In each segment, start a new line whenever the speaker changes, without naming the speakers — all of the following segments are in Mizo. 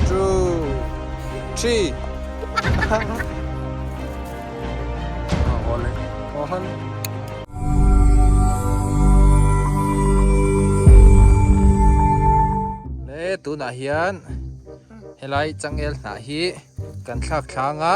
Two, three. Tunah hian helai changel hnah hi kan thlak thlanga.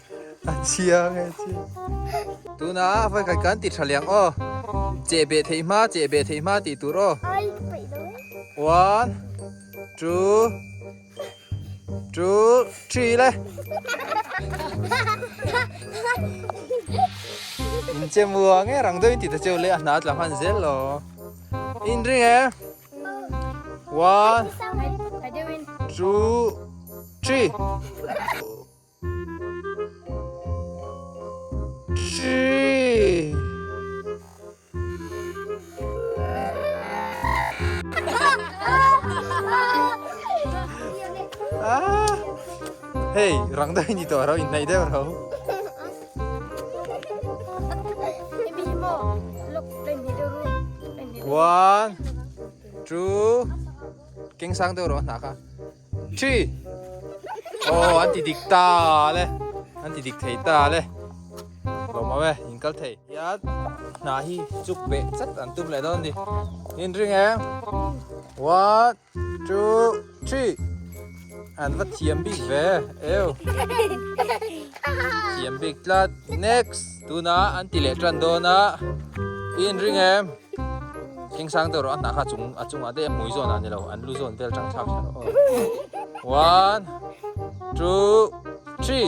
A chia nge chia. Tuna a vai khat kan ti tha liang aw. Che be thei hma, che be thei hma ti tur aw. One, two, two, three le. In che mua nge rang doi ti ta cheu le a hna tla han zel lo. In ring e. One, two, three. Hei, rang deuh hi ni tawh a lo, inhnaih deuh a lo. One, two, keng sang deuh a lo a hna kha. Thi! Oh, an ti dik ta le. An ti dik thei ta le. Lo mau e, in kal thei. Ya, hna hi chuk be chat an tum leh dawn ni. In ring e. One, two, three. An va thiam bik ve. Eu. Thiam bik tlat. Next. Tuna an ti leh tan dawn a, i inring em? Eng sang deuh rawh, a hna kha a chungah daih a, hmui zawn ah ni lo, an lu zawn vel chang thlak tha rawh aw. One, two, three.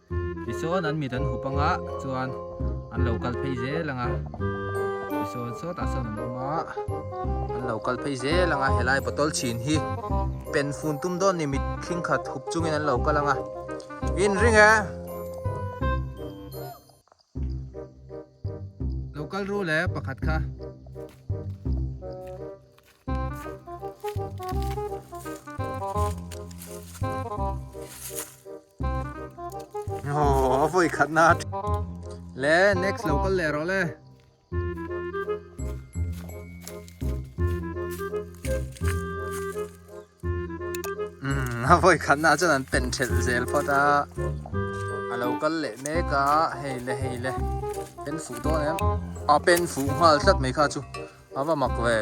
Tichuan an mit an hup anga chuan an lo kal phei zel ang a, Tisawn sawtah sawn an awm a, an lo kal phei zel ang a, helai bottle chhin hi pen fun tum dawn ni mit thing khat hup chungin an lo kal ang a, in ring e. Lo kal ru le pakhat kha. Aww a vawi khatna. Le next lo kal leh rawh le. A vawi khatnaah chuan an pen ṭhelh zel phawt a, a lo kal leh mek a, hei le hei le, pen fuh dawn em, a pen fuh nghal tlat mai kha chu a va mak ve,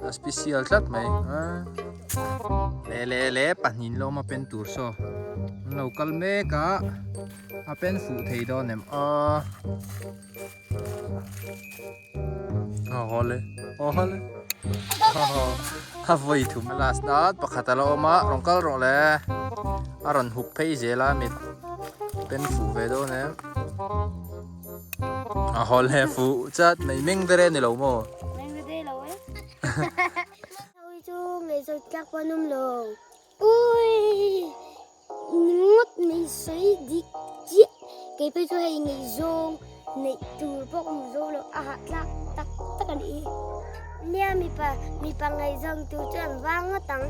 a special tlat mai, le le le pahnihin lawma pen tur saw an lo kal mek a. A pen fuh thei dawn em a. A hole, a hole. A vawi thum. Last dan pakhat a la awm a, rawn kal rawh le. A rawn huk phei zel a mit. Pen fuh ve dawn em. A hole, fuh chat mai. Mengdere a ni lo maw? Mengdere lo e. Hei chu ngaihzawt tlak pawh a nawm lo. Awii! Ngawt mai sawi dik chiah! Kei phei chu hei neih zawng neih tur pawh ka hmu zo lo, a hahtlak tak tak a ni hi. Nia mipa, mipa ngaih zawng tur chu an vang ngawt ang.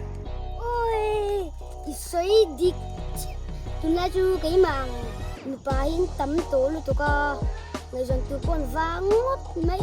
Awii! I sawi dik chiah! Tunlai chu keimang nupa hi an tam tawh lutuk a, ngaih zawng tur pawh an vang ngawt mai.